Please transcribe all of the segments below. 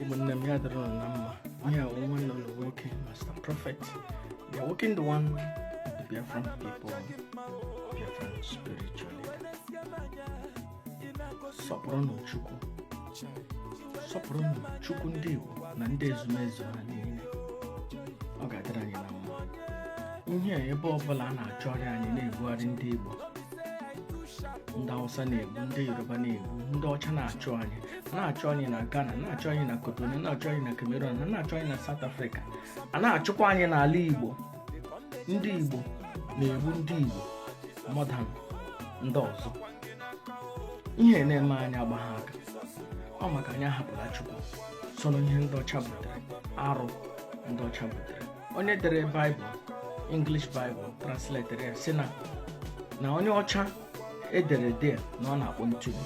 ụmụnne m ya dịrị ụnụ na mma ihe a wụ nwanne ụnụ nwoke Master Prophet the working the one the Biafran people Biafran spiritual leader sọpụrụnụ Chukwu sọpụrụnụ Chukwu ndị Igbo na ndị ezumezu ha niile ọ ga-adịrị anyị na mma ihe a ebe ọbụla a na-achọrị anyị na-ebugharị ndị Igbo ndị Hausa na-egbu ndị Yoruba na-egbu ndị ọcha na-achụ anyị a na-achụ anyị na Ghana a na-achụ anyị na Cotonou a na-achụ anyị na Cameroon a na-achụ anyị na South Africa a na-achụkwa anyị n'ala Igbo ndị Igbo na-egbu ndị Igbo more than ndị ọzọ ihe na-eme anyị agbagha aka ọ maka anyị ahapụla Chukwu so na ihe ndị ọcha butere arụ ndị ọcha butere onye dere baịbụl English Bible translated ya sị na na onye ọcha e dere there na ọ na-akpọ ntụgbu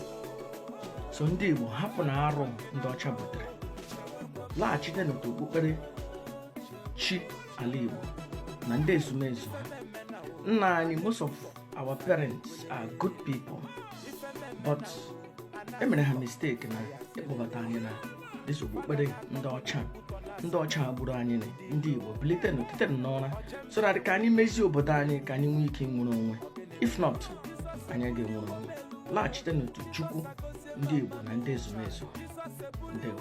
so ndị Igbo hapụnụ arụ ndị ọcha butere laghachite n'otu okpukpere chi ala Igbo na ndị ezumezu ha nna anyị most of our parents are good people but e mere ha mistake na ịkpọbata anyị na this okpukpere ndị ọcha ndị ọcha gburu anyị ndị igbo bilitenụ titenụ n'ụra so that ka anyị mezie obodo anyị ka anyị nwee ike nwere onwe if not anyị ga-enwere onwe laghachite n'otu chukwu ndị igbo na ndị ezumezu ndewo